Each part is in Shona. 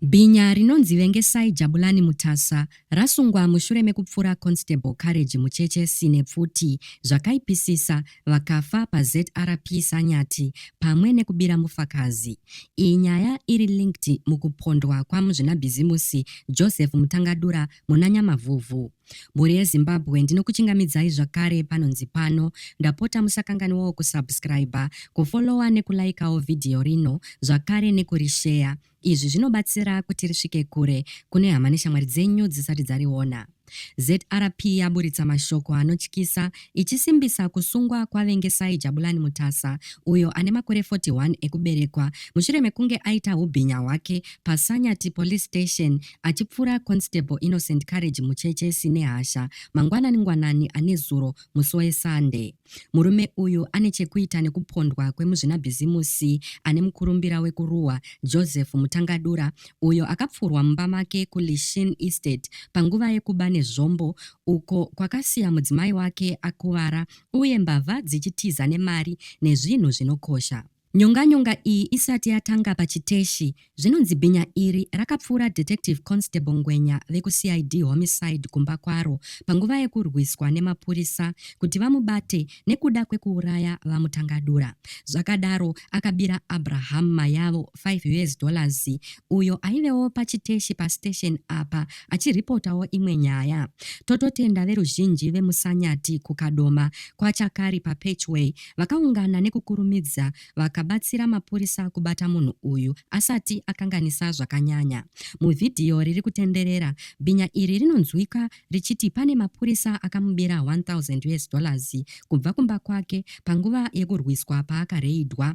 Bhinya rinonzi Vengesai Jabulani Mutasa rasungwa mushure mekupfura Constable Courage Mucheche Sine pfuti zvakaipisisa vakafa paZRP Sanyati pamwe nekubira mufakazi. Iyi nyaya iri linked mukupondwa kwaMuzvinabhizimusi Joseph Mutangadura muna Nyamavhuvhu. Mhuri yeZimbabwe ndinokuchingamidzai zvakare panonzi pano. Ndapota musakanganwawo kusubscriber, kufollower nekulaikawo vhidhiyo rino zvakare nekurisheya. Izvi zvinobatsira kuti risvike kure kune hama neshamwari dzenyu dzisati dzariona. ZRP yaburitsa mashoko anotyisa ichisimbisa kusungwa kwaVengesai Jabulani Mutasa uyo ane makore 41 ekuberekwa mushure mekunge aita hubhinya hwake paSanyati Police Station achipfura Constable Innocent Courage Mucheche Sinehasha mangwanani ngwanani anezuro musi weSunday. Murume uyu ane chekuita nekupondwa kwemuzvinabhizimusi ane mukurumbira wekuruwa Joseph Mutangadura uyo akapfurwa mumba make kuLishin Estate panguva yekuba nezvombo uko kwakasiya mudzimai wake akuvara uye mbavha dzichitiza nemari nezvinhu zvinokosha. Nyonganyonga iyi isati yatanga pachiteshi, zvinonzi bhinya iri rakapfuura Detective Constable Ngwenya vekuCID Homicide kumba kwaro panguva yekurwiswa nemapurisa kuti vamubate nekuda kwekuuraya VaMutangadura. Zvakadaro, akabira Abraham Mayavo 5 us dollars uyo aivewo pachiteshi pastation apa achiripotawo imwe nyaya. Tototenda veruzhinji vemuSanyati kuKadoma, kwaChakari paPatchway Vakaungana nekukurumidza vakabatsira mapurisa kubata munhu uyu asati akanganisa zvakanyanya. Muvhidhiyo riri kutenderera, bhinya iri rinonzwika richiti pane mapurisa akamubira 1000 US dollars kubva kumba kwake panguva yekurwiswa paakareidhwa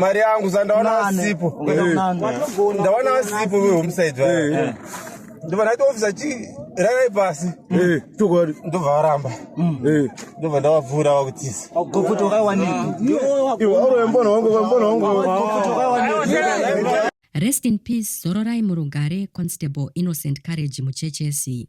mari yangu sandaona vasipo ndaona vasipo vehomsaid vaya ndobva ndaita ofisa chi rarai pasi eh, chokwadi ndobva varamba mm. eh. ndobva ndavabvura vakutisa rest in peace zororai murugare constable innocent courage muchechesi